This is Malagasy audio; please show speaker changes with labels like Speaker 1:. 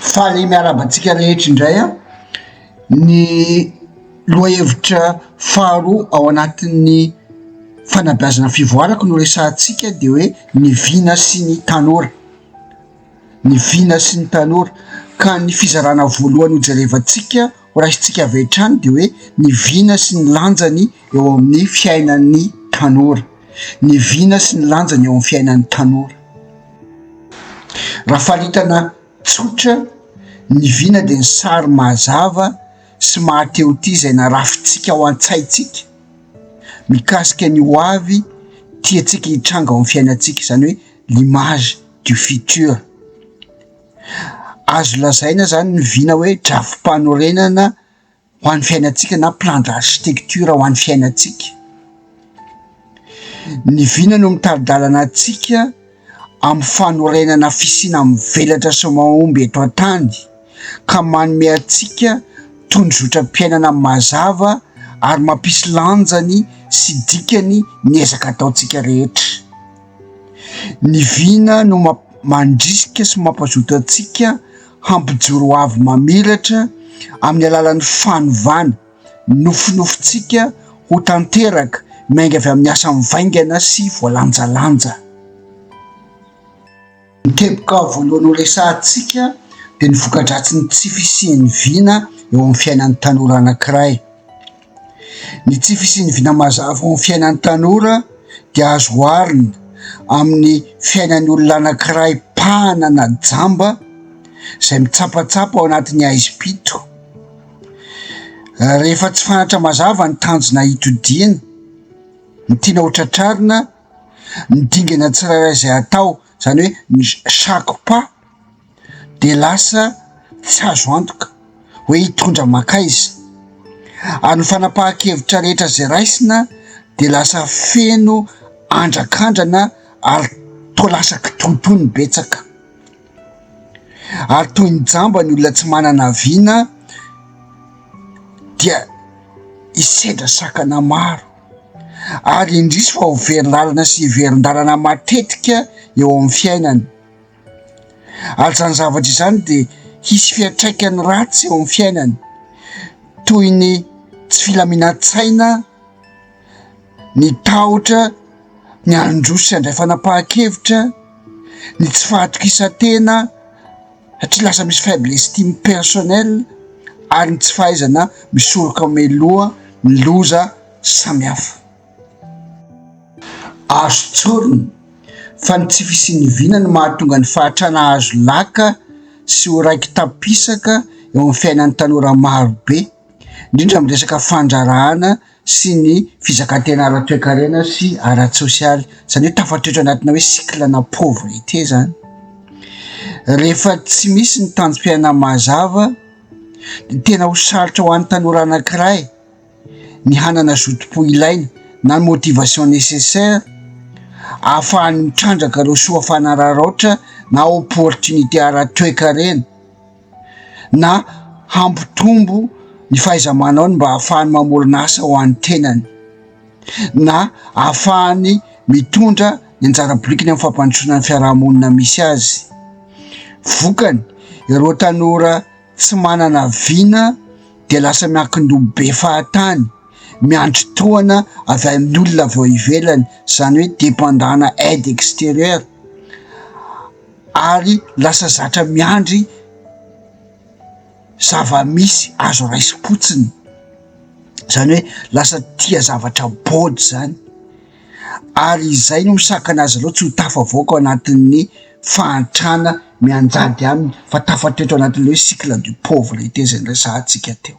Speaker 1: Faly miarahaba antsika rehetra indray an! Ny lohahevitra faharoa ao anatin'ny fanabeazana fivoarako no resahantsika de hoe ny vina sy ny tanora, ny vina sy ny tanora ka ny fizarana voalohany hojerevantsika Ho raisintsika avy hatrany dia hoe ny vina sy ny lanjany eo amin'ny fiainan'ny tanora, ny vina sy ny lanjany eo amin'ny fiainan'ny tanora. Raha faritana tsotra, ny vina dia ny sary mazava sy mahatehotia izay narafintsika ao an-tsaintsika mikasika ny ho avy tiantsika hitranga ao amin'ny fiainantsika, izany hoe l'image du futur. Azo lazaina izany ny vina hoe drafi-panorenana ho an'ny fiainantsika na plan d'architecture ho an'ny fiainantsika. Ny vina no mitari-dalana antsika amin'ny fanorenana fisiana mivelatra sy mahomby eto an-tany ka manome antsika tondrozotram-piainana mazava ary mampisy lanjany sy dikany ny ezaka ataontsika rehetra. Ny vina no mandrisika sy mampazoto antsika hampijoro ho avy mamiratra amin'ny alalan'ny fanovana, ny nofinofintsika ho tanteraka, miainga avy amin'ny asa mivaingana sy voalanjalanja. Ny teboka voalohany horesahantsika dia ny voka-dratsin'ny tsy fisian'ny vina eo amin'ny fiainan'ny tanora anankiray. Ny tsy fisian'ny vina mazava eo amin'ny fiainan'ny tanora dia azo oharina amin'ny fiainan'ny olona anankiray mpahana na jamba izay mitsapatsapa ao anatin'ny haizim-pito. Rehefa tsy fantatra mazava ny tanjona hitodiany, ny tiana ho tratrarina. Ny dingana tsirairay izay atao, izany hoe ny chaque pas dia lasa tsy azo antoka hoe hitondra mankaiza. Ary ny fanapahan-kevitra rehetra izay raisina dia lasa feno andrakandrana ary toa lasa kitoatoa ny betsaka. Ary toy ny jamba ny olona tsy manana vina dia hisedra sakana maro. ary indrisy fa ho very lalina sy hiverin-dalana matetika eo amin'ny fiainany. Ary izany zavatra izany dia hisy fiantraikany ratsy eo amin'ny fiainany, toy ny tsy filaminan-tsaina, ny tahotra, ny handroso sy handray fanapahan-kevitra, ny tsy fahatokisan-tena. satria lasa misy faible estime personnel ary ny tsy fahaizana misoroka mialoha ny loza samihafa. Azo tsorina fa ny tsy fisian'ny vina no mahatonga ny fahatrana hahazo laka sy ho raiki-tampisaka eo amin'ny fiainan'ny tanora marobe, indrindra amin'ny resaka fandraharahana. sy ny fizakan-tena ara-toekarena sy ara-tsosialy, izany hoe tafatoetra anatina hoe cycle na pauvreté izany. Rehefa tsy misy ny tanjom-piainana mazava dia tena ho sarotra ho an'ny tanora anankiray ny hanana zotom-po ilaina na ny motivation nécessaire ahafahany mitrandraka ireo soa fanararaotra na opportunité ara-toekarena. na hampitombo ny fahaiza-manaony mba hahafahany mamorona asa ho an'ny tenany na hahafahany mitondra ny anjara birikiny amin'ny fampandrosoana ny fiarahamonina misy azy. Vokany, ireo tanora tsy manana vina dia lasa miankin-doha be fahatany, miandry tohana avy amin'ny olona avy ao ivelany, izany hoe dependant-na aide extérieure. ary lasa zatra miandry zava-misy azo raisim-potsiny, izany hoe lasa tia zavatra bodo izany ary izay no misakana azy ireo tsy ho tafavoaka ao anatin'ny fahantrana mianjady aminy fa tafatoetra ao anatin'ilay hoe cycle du pauvre izay resahantsika teo.